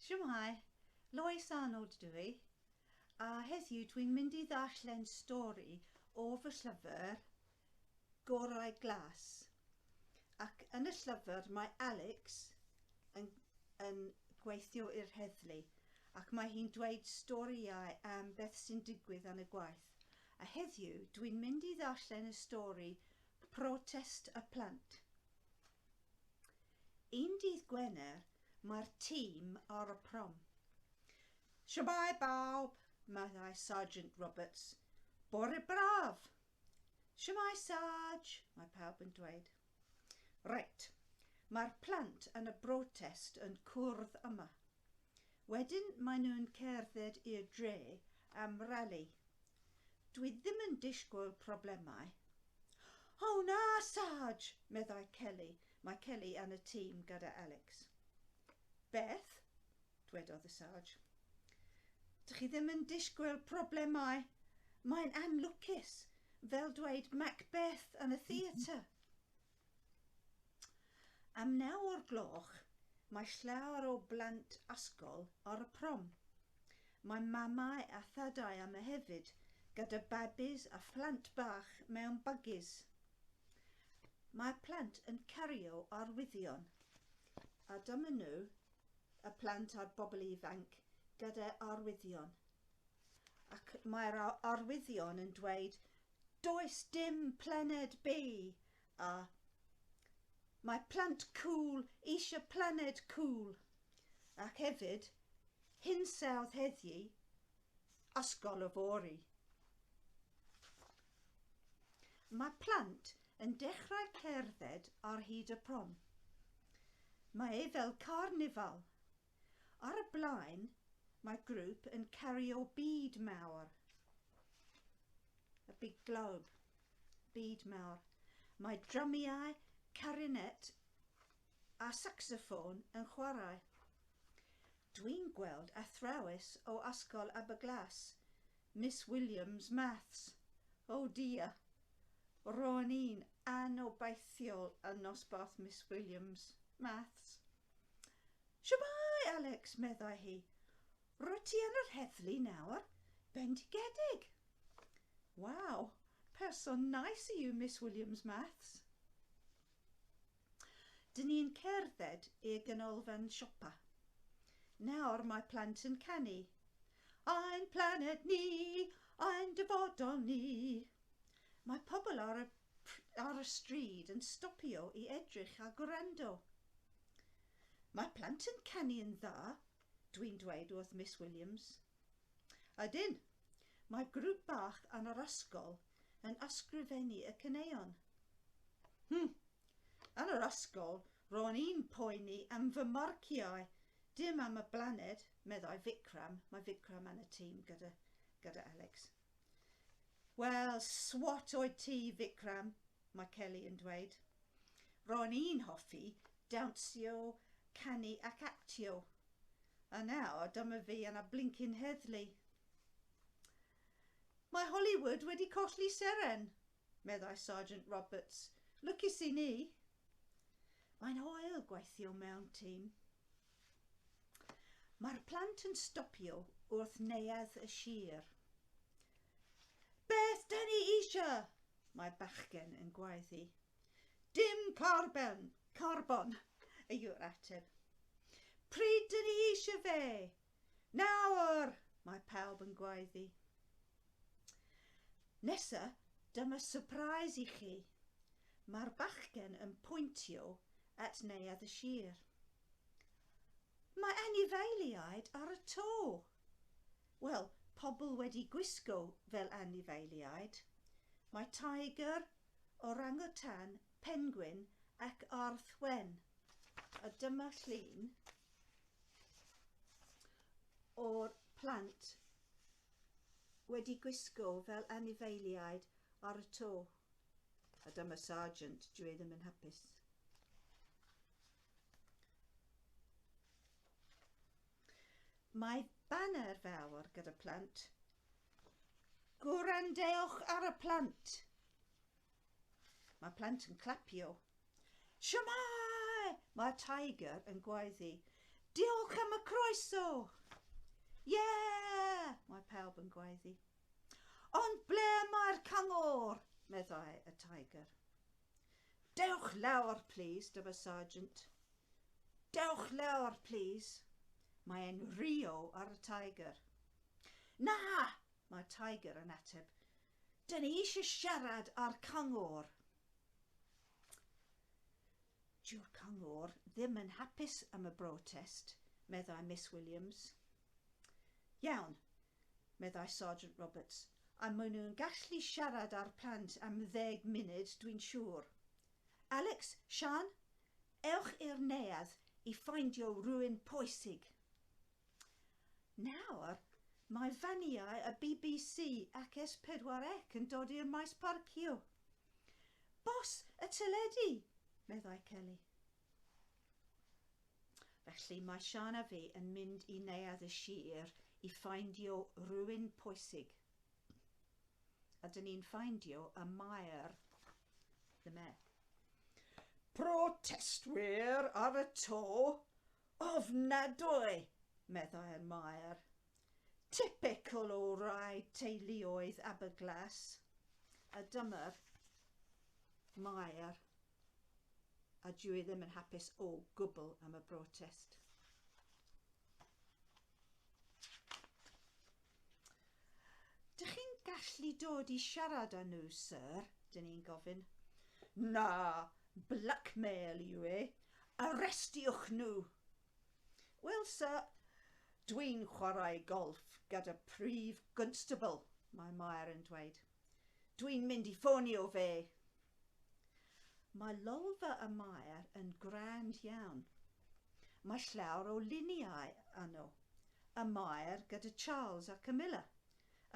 Shwmae, Lois Arnold dw i, a heddiw dwi'n mynd i ddarllen stori o fy llyfr gorau Glas. Ac yn y llyfr mae Alex yn yn gweithio i'r heddlu ac mae hi'n dweud storïau am beth sy'n digwydd yn y gwaith. A heddiw dwi'n mynd i ddarllen y stori Protest y Plant. Un dydd Gwener mae'r tîm ar y prom. Shwmae bawb, meddai Sergeant Roberts. Bore braf! Shwmae Sarge, mae pawb yn dweud. Reit, mae'r plant yn y brotest yn cwrdd yma. Wedyn maen nhw'n cerdded i'r dre am rali. Dwi ddim yn disgwyl problemau. O na, Sarge! meddai Kelly, mae Kelly yn y tîm gyda Alex. Beth? dwedodd y Sarge. Dych chi ddim yn disgwyl problemau? Mae'n anlwcus, fel dweud Macbeth yn y theatr. Am naw o'r gloch mae llawer o blant ysgol ar y prom. Mae mamau a thadau yma hefyd gyda babis a phlant bach mewn bygis. Mae'r plant yn cario arwyddion a dyma nhw, y plant a'r bobl ifanc, gyda arwyddion. Ac mae'r arwyddion yn dweud Does dim planed B, a mae plant cŵl eisiau planed cŵl. Ac hefyd, hinsawdd heddiw, ysgol yfory. Mae plant yn dechrau cerdded ar hyd y prom. Mae e fel carnifal. Ar y blaen, mae grŵp yn cario byd mawr. A big globe. Byd mawr. Mae drymiau, carinet a saxoffôn yn chwarae. Dwi'n gweld athrawes o Ysgol Aberglas, Miss Williams, Maths. O dia! Ro'n i'n anobeithiol yn nosbarth Miss Williams, Maths. Shwmae, Alex, meddai hi. Rwyt ti yn yr heddlu nawr, bendigedig. Waw, person nais i yw Miss Williams Maths. Dyn ni'n cerdded i'r ganolfan siopa. Nawr mae plant yn canu. Ein planed ni, ein dyfodol ni. Mae pobl ar y ar y stryd yn stopio i edrych a gwrando. Mae plant yn canu yn dda, dwi'n dweud wrth Miss Williams. Ydyn, mae grŵp bach yn yr ysgol yn ysgrifennu y caneuon. Hm, yn yr ysgol ro'n i'n poeni am fy marciau, dim am y blaned, meddai Vikram, mae Vikram yn y tîm gyda, gyda Alex. Wel, swat oed ti, Vikram, mae Kelly yn dweud. Ro'n i'n hoffi dawnsio, canu ac actio. A nawr dyma fi yn y blincin heddlu. Mae Hollywood wedi colli seren, meddai Sergeant Roberts. Lwcus i ni. Mae'n hoel gweithio mewn tîm. Mae'r plant yn stopio wrth neuadd y sir. Beth da ni eisiau? Mae bachgen yn gwaethu. Dim carbon! Carbon! yw'r ateb. Pryd da ni eisiau fe? Nawr! Mae pawb yn gwaethu. Nesa, dyma surprise i chi. Mae'r bachgen yn pwyntio at neuadd y sir. Mae anifeiliaid ar y to! Wel, pobl wedi gwisgo fel anifeiliaid. Mae tiger, orangutan, pengwin ac arth wen. A dyma llun o'r plant wedi gwisgo fel anifeiliaid ar y to. A dyma Sargeant, dwi ddim yn hapus. Mae baner fawr gyda plant. Gwrandewch ar y plant. Mae plant yn clapio. Siamai! Mae Tiger yn gwaeddi. Diolch am y croeso! Yeah! Mae pawb yn gwaeddi. Ond ble mae'r cyngor? meddai y Tiger. Dewch lawr, plîs, dyma Sargeant. Dewch lawr, plîs. Mae e'n Rio ar y Tiger. Na! Mae Tiger yn ateb. Dyn ni eisiau siarad â'r cyngor. Dyw'r cyngor ddim yn hapus am y brotest, meddai Miss Williams. Iawn, meddai Sergeant Roberts, a maen nhw'n gallu siarad â'r plant am ddeg munud, dwi'n siŵr. Alex, Siân, ewch i'r neuadd i ffeindio rhywun pwysig. Nawr, mae faniau y bbc ac S4C yn dod i'r maes parcio. Bws y teledu! meddai Kelly. Felly mae Siân a fi yn mynd i Neuadd y Sir i ffaindio rhywun pwysig. A dyn ni'n ffaindio y Maer the Mayor. Protestwyr ar y to, ofnadwy, meddai'r Maer. Typical o rai teuluoedd Aberglas. A dyma'r Maer a dw i ddim yn hapus o gwbl am y brotest. Dych chi'n gallu dod i siarad â nhw, sir? Dyn ni'n gofyn. Na, blackmail yw e. Arrestiwch nhw! Wel, sir, dwi'n chwarae golf gyda prif gwnstabl, mae Mair yn dweud. Dwi'n mynd i ffonio fe! Mae lolfa y Maer yn grand iawn. Mae llawer o luniau yno, y Maer gyda Charles a Camilla,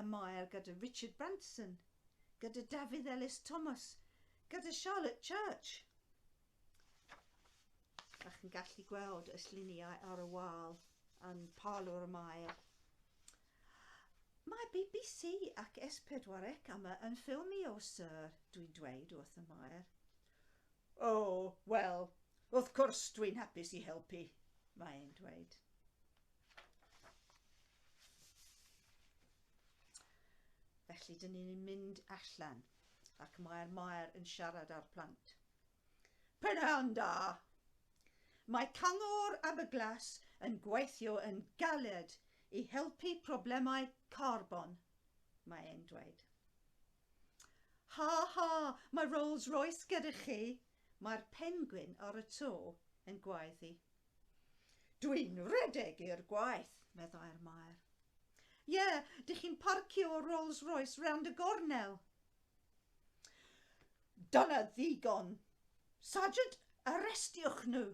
y Maer gyda Richard Branson, gyda Dafydd Elis Thomas, gyda Charlotte Church. A chi'n gallu gweld y lluniau ar y wal yn Parlwr y Maer. Mae bbc ac S pedwar ec am y yn ffilmio Sir, dwi'n dweud wrth y Maer. O, wel, wrth cwrs dwi'n hapus i helpu, mae e'n dweud. Felly, dyn ni'n mynd allan ac mae'r Maer yn siarad â'r plant. Prynhawn da! Mae Cyngor Aberglas yn gweithio yn galed i helpu problemau carbon, mae e'n dweud. Ha ha, mae Rolls Royce gyda chi, mae'r pengwin ar y to yn gwaeddu. Dwi'n rhedeg i'r gwaith, meddai'r Maer. Ie, dych chi'n parcio Rolls Royce rownd y gornel, Dyna ddigon. Sergeant, arestiwch nhw!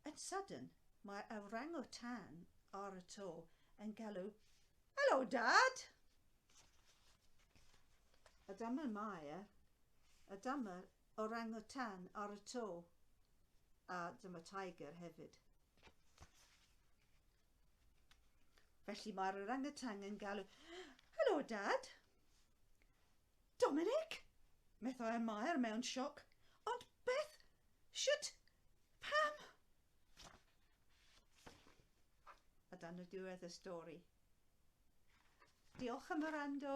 Yn sydyn, mae awrango tan ar y to yn galw, Helo, Dad! A dyma Maya, a dyma orangutan ar y to, a dyma Tiger hefyd. Felly mae'r orangatang yn galw, Helo, Dad! Dominic! Methau y Maer mewn sioc. Ond beth? Sut? Pam? A dan y diwedd y stori. Diolch am y rando.